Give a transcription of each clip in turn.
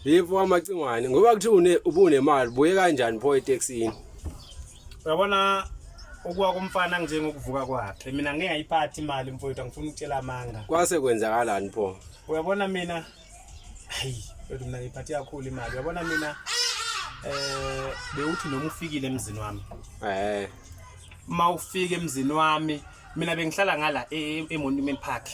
Yebo amacingwane ngoba kuthiwa une ubunemali buye kanjani pho etaxini. Uyabona ukuwa komfana njengokuvuka kwakhe. Mina ngeke ngayiphathi imali mfowethu angifuni ukutshela amanga. Kwase kwenzakalani pho? Uyabona mina hayi kodwa mina ngiphathe kakhulu imali. Uyabona mina eh bewuthi noma ufikile emzini wami. Eh. Uma ufika emzini wami mina bengihlala ngala e-, e-, eMonument Park.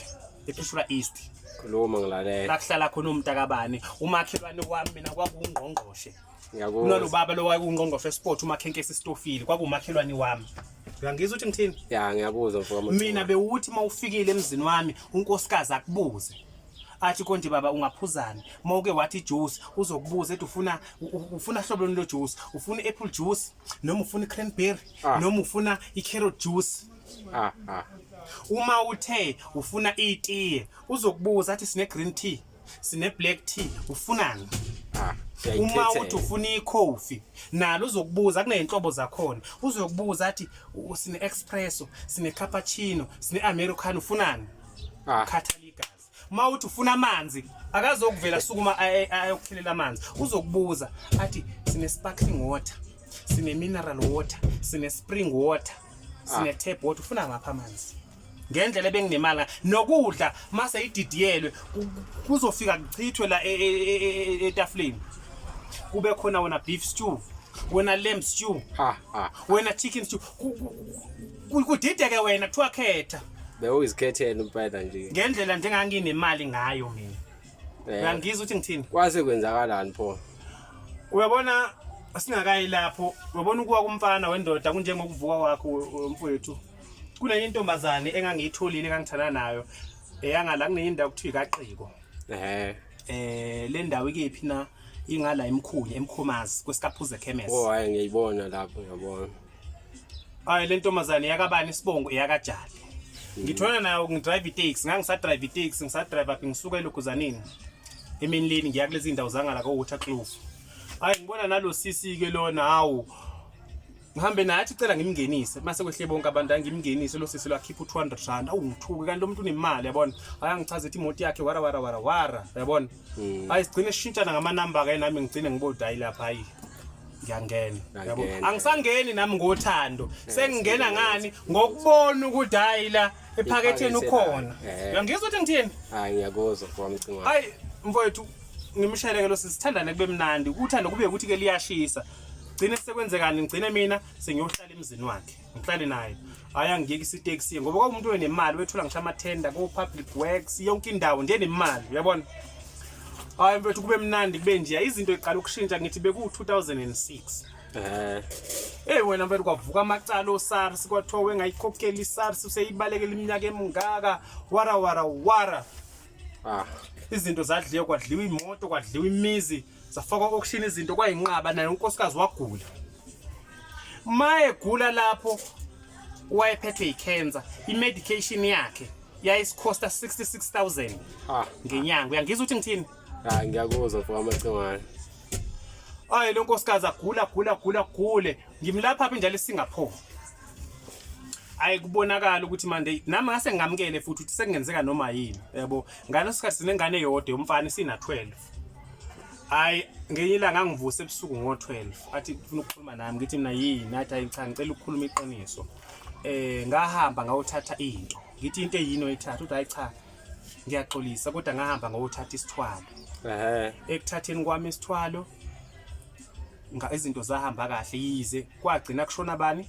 ephishula east khuluma ngilalela lakuhlala khona umntakabani umakhelwane wami mina kwakungqongqoshe ngiyakuzwa kunalobaba lowayekungqongqoshe esport umakhenkesi stofile kwakumakhelwane wami uyangizwa ukuthi ngithini ya ngiyakuzwa mfoka Motshwa. mina bewuthi uma ufikile emzini wami unkosikazi akubuze athi konje baba ungaphuzani uma uke wathi juice uzokubuza ethi ufuna u- u- ufuna hlobo luni lo juice ufuna i-apple juice noma ufuna i-cranberry Ah. noma ufuna i-carrot juice Ah, ah. Uma uthe ufuna itiye uzokubuza athi sine green tea, sine black tea, ufunani? Ah, Uma uthi ufuna ikhofi nalo uzokubuza kuneyinhlobo zakhona. Uzokubuza athi u- sine espresso, sine cappuccino, sine americano ufunani? Ah. Khathala igazi. uma uthi ufuna amanzi akazokuvela sukuma ayokukhelela amanzi uzokubuza athi sine sparkling water sine mineral water sine spring water sine ah. tap water ufuna ngapha amanzi ngendlela ebenginemali nokudla mase ididiyelwe kuzofika kuchithwe la e, e, e, etafuleni kube khona wona beef stew wena lamb stew ha ha wena chicken stew Ku- kudideke wena kuthiwa khetha bewuyizikhethela impela nje ngendlela njenganginemali ngayo mina Eh, uyangizwa ukuthi ngithini kwase kwenzakalani pho uyabona singakayi lapho uyabona ukuwa kumfana wendoda kunjengokuvuka kwakho we- we- mfowethu kunenye intombazane engangiyitholile engangithanda nayo eyangala kunenye indawo kuthiwa ikaqiko ehe eh le ndawo ikephi na ingala emkhulu emkhomazi kwesikaphuze chemist owaye ngiyibona lapho ngiyabona Hayi le ntombazane yakabani isibongo yakajali. Ngithwena nayo ngidrive itaxi, ngangisadrive itaxi, ngisadrive up ngisuka eLuguzanini. Emini leni ngiya kulezi ndawo zangala ko Waterkloof. Hayi ngibona nalo sisi ke lona hawu. Ngihambe naye athi cela ngimngenise. Mase kwehle bonke abantu angimngenise lo sisi lwakhipha u200 rand. Awu ngithuke kanti lo muntu unemali yabona. Hayi angichaze ithi imoto yakhe wara wara wara wara. Yabona? Mm. Hayi sigcine sishintshana ngama number ke nami ngigcine ngibodi hayi lapha hayi. Ngiyangena. Yabo. Angisangeni nami ngothando. Eh, Sengingena ngani ngokubona ukuthi hayi la ephaketheni ukhona. Eh. Uyangizwa ukuthi ngithini? Hayi ngiyakuzwa kwami cinga. Hayi mfowethu ngimsheleke lo sisithandane kube mnandi. Uthando kube ukuthi ke liyashisa. Gcine sekwenzekani ngigcine mina sengiyohlala emzini wakhe. ngihlale naye hayi angiyeki isiteksi ngoba kwakumuntu wenemali wethola ngisho amathenda ko-public works yonke indawo nje nemali uyabona hayi mfethu kube mnandi kube nje izinto iqala ukushintsha ngithi beku-2006 Eh. Hey wena mfethu kwavuka amacala oSARS kwathiwa wengayikhokheli iSARS useyibalekela iminyaka emingaka wara wara wara. Ah. Izinto zadliwa kwadliwa imoto kwadliwa imizi. zafakwa auction izinto kwayinqaba naye unkosikazi wagula uma egula lapho wayephethwe yicancer imedication yakhe yayisikhosta 66000 ah. ngenyanga uyangizwa ukuthi ngithini hayi ah, ngiyakuzwa mfo amacingwane ayi lo nkosikazi agula gula gula gule ngimlapha phi njalo eSingapore ayi kubonakala ukuthi manje nami ngase ngamkele futhi ukuthi sekungenzeka noma yini yabo ngaleso sikhathi sinengane yodwa yomfana sina 12 hayi ngenye ilanga angivuse ebusuku ngo-12 athi funa ukukhuluma nami ngithi mina yini athi hayi cha ngicela ukukhuluma iqiniso eh ngahamba ngawuthatha into ngithi into eyini oyithatha uthi hayi cha ngiyaxolisa kodwa ngahamba ngawuthatha isithwalo ehe ekuthatheni kwami isithwalo izinto zahamba kahle yize kwagcina kushona bani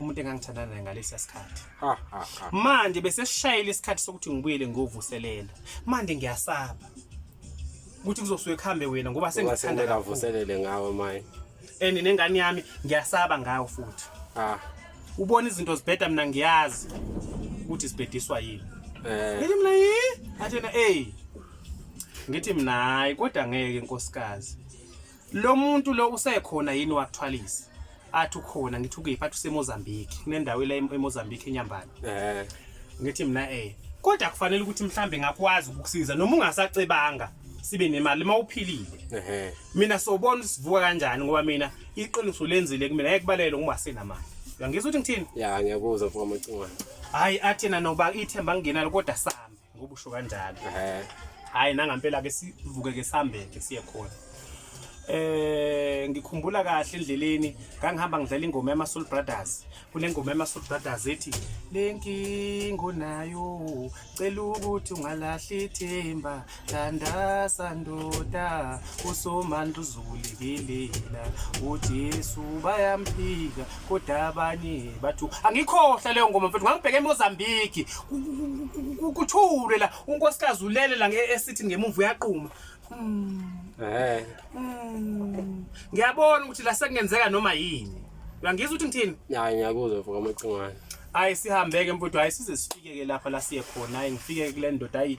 umuntu engangithandana naye ngalesi sikhathi manje bese sishayile isikhathi sokuthi ngibuyele ngovuselela manje ngiyasaba ukuthi kuzosuke kuhambe wena ngoba sengithanda kavuselele ngawe manje and nengane yami ngiyasaba ngayo futhi ah ubona izinto zibheda mina ngiyazi ukuthi sibhediswa yini eh ngithi mina yi athena hey ngithi mina hayi kodwa ngeke inkosikazi Lo muntu lo usekhona yini wakuthwalisa? Athi ukhona ngithi ukephi athi useMozambique. Kunendawo la eMozambique eNyambane. Eh. Ngithi mina eh kodwa kufanele ukuthi mhlambe ngakwazi ukukusiza noma ungasacebanga sibe nemali uma uphilile ehe mina sobona sivuka kanjani ngoba mina iqiniso lenzile kumina ngeke kubalele ngoba asenamali uyangizwa ukuthi ngithini ya ngiyakuzwa mfowamacingo hayi athina noba ithemba ngingenalo kodwa sami ngoba usho kanjalo hhayi nangampela ke sivuke ke sihambeke siye khona eh ngikhumbula kahle endleleni ngangihamba ngidlala ingoma yama Soul Brothers kunengoma yama Soul Brothers ethi lenkingo nayo cela ukuthi ungalahli ithemba thanda sandoda usomandla uzukulekelela uJesu bayamphika kodwa abanye bathu angikhohle leyo ngoma mfethu ngangibheke eMozambique kuthule la unkosikazi ulele la nge-esithini ngemumva uyaquma hmm. eh. hmm. ngiyabona ukuthi la sekungenzeka noma yini uyangizwa ukuthi ngithini hayi ngiyakuzwa mfo kamacingwane hayi sihambeke mfowethu hayi size sifike-ke lapha la siye khona hayi ngifike kule ndoda hayi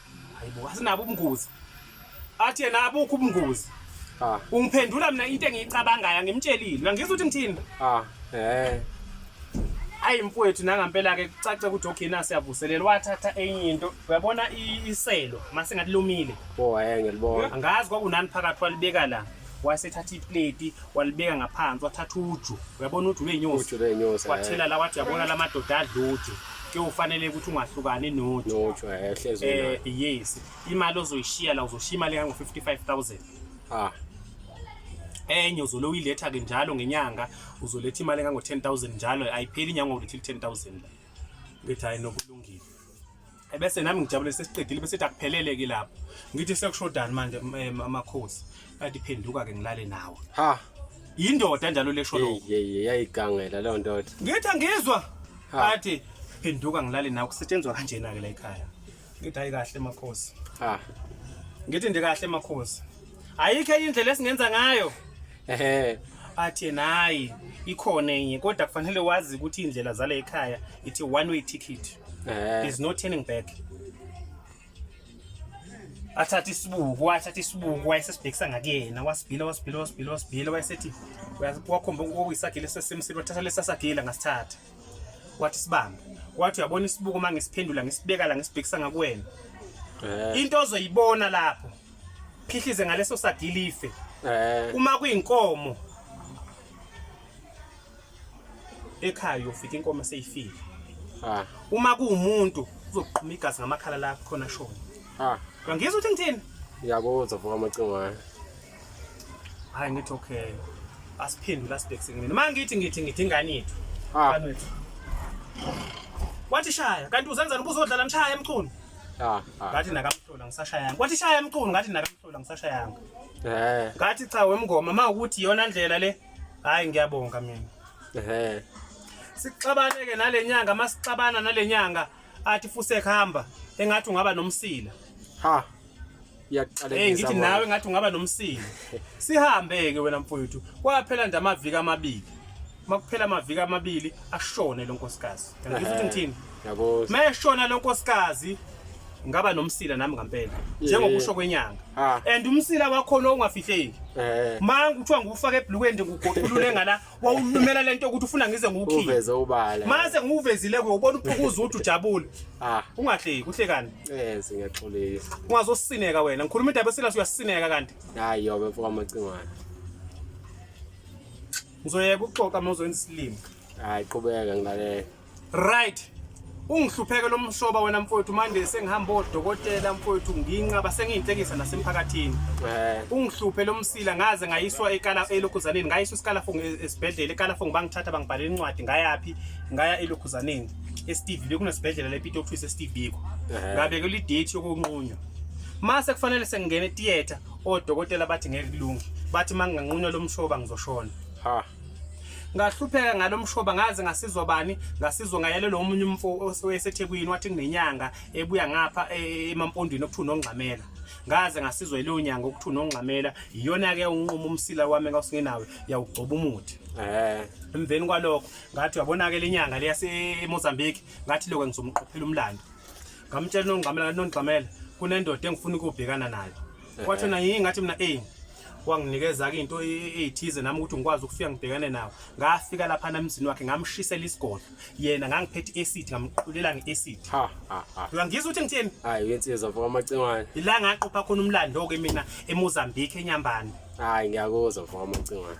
Hayibo asinabo ubungozi. Athi yena abukho ubungozi. Ah. Ungiphendula mina into engiyicabangayo angimtshelile. Angizwa ukuthi ngithini. Ah. Eh. Hayi mfowethu nangampela ke kucace ukuthi ogina siyavuselela wathatha enye into. Uyabona iselo masingathi lomile. Oh, eh ngiyalibona. Angazi kwakunani phakathi walibeka la. wasethatha ipleti walibeka ngaphansi wathatha uju uyabona uju lwenyosi eh. wathela la wathi yabona la madoda adla uju kuyofanele ukuthi ungahlukani noju eh, eh yes imali ozoyishiya la uzoshiya imali engango 55000 ah enye uzolo uyiletha ke njalo ngenyanga uzoletha imali engango 10000 njalo ayipheli inyanga ulethe 10000 la ngithi hayi nokulungile ebese nami ngijabule sesiqedile bese akuphelele ke lapho ngithi sekushodani manje eh, amakhosi kanti phenduka ke ngilale nawe ha yindoda njalo lesho lokho yeye yayigangela leyo ndoda ngithi angizwa athi phenduka ngilale nawe kusetshenzwa kanjena ke la ekhaya ngithi hayi kahle makhosi ha ngithi ndikahle makhosi ayikho indlela esingenza ngayo ehe athi yena hayi ikhona enye kodwa kufanele wazi ukuthi iy'ndlela zala ekhaya ithi one way ticket Eh. there's no turning back athatha isibuku wathatha isibuku wayesesibhekisa ngakuyena wasibhila wasibhila wasibhila wasibhila wayesethi uya- wakhomba okuyisagila esesemsini wathatha lesasagila ngasithatha wathi sibambe wathi uyabona isibuku uma ngisiphendula ngisibeka la ngisibhekisa ngakuwena Eh. into ozoyibona lapho phihlize ngaleso sadilife eh uma kuyinkomo ekhaya ufika inkomo seyifile ah uma kuumuntu uzoqhuma igazi ngamakhala la khona shona ah ngizwe ukuthi ngithini ngiyakuzwa vuka amacingo hayi hayi ngithi okay asiphendula sibhekise mina manje ngithi ngithi ngithi ingane yethu ah wathi shaya kanti uzenzani ubuzodlala mshaya emchunu Ah, ah. ngathi nakamhlola ngisashayanga kwathi shaya emqulu ngathi nakamhlola ngisashayanga eh ngathi cha wemngoma ma ukuthi iyona ndlela le hayi ngiyabonga mina eh sixabane ke nalenyanga masixabana nalenyanga athi fuse khamba engathi ungaba nomsila ha iyakuqala hey ngithi nawe ngathi ungaba nomsini sihambe ke wena mfowethu kwaphela nje amaviki amabili makuphela amaviki amabili ashone lo nkosikazi ngizwe ukuthi ngithini yabo meshona lo nkosikazi ngaba nomsila nami ngampela njengokusho kwenyanga ah. and umsila wakho lo ungafihleki eh. manje kuthiwa ngufaka ebhlukweni nje ngugoqulule ngala wawulumela lento ukuthi ufuna ngize ngukhiye uveze ubala mase ngiwuvezile ke ubona uphukuza ukuthi ujabule ah ungahleki uhlekani yes ngiyaxolisa ungazosineka wena ngikhuluma indaba esilasi uyasineka kanti hayi yobe mfoka macingwana ngizoyeka ukuxoxa mawuzoyenza isilimo hayi qhubeka ngilalele Right. Ungihlupheke lo mshoba wena mfowethu manje sengihamba odokotela mfowethu nginqaba sengiyinhlekisa nasemphakathini. Eh. Ungihluphe lo msila ngaze ngayiswa ekala elokhuzaneni ngayiswa isikala fong esibhedlela ekala fong bangithatha bangibhalela incwadi ngayaphi ngaya elokhuzaneni. eSteve bekunesibhedlela lePito Office eSteve Biko eh. ngabeke le date yokunqunywa mase kufanele sengingena etheater odokotela bathi ngeke kulunge bathi manginganqunywa lomshoba ngizoshona ha ngahlupheka ngalo mshoba ngaze ngasizwa bani ngasizwa ngayalelwa omunye umfo osethekwini wathi kunenyanga ebuya ngapha e, emampondweni okuthiwa unongxamela ngaze ngasizwa ileyo nyanga okuthiwa unongxamela iyona-ke unquma umsila wami engasingenawe yawugcoba umuthi eh. emveni kwalokho ngathi uyabona-ke le nyanga leyasemozambique ngathi lokho ngizomqophela umlando ngamtshela unongxamela nonigxamela kunendoda engifuna ukubhekana nayo eh. kwathi yona yingathi mina eyi wanginikeza-ke into eyithize nami ukuthi ngikwazi ukufika ngibhekane nawo ngafika lapha namzini wakhe ngamshisela isigodlo yena ngangiphethe i-acid ngamqulela nge-acid uyangizwa ukuthi ngitheni hayi uyensizwa mfoka amacingwane ila ngaqopha khona umlando-ke mina emozambique enyambane hayi ngiyakuzwa mfoka amacingwane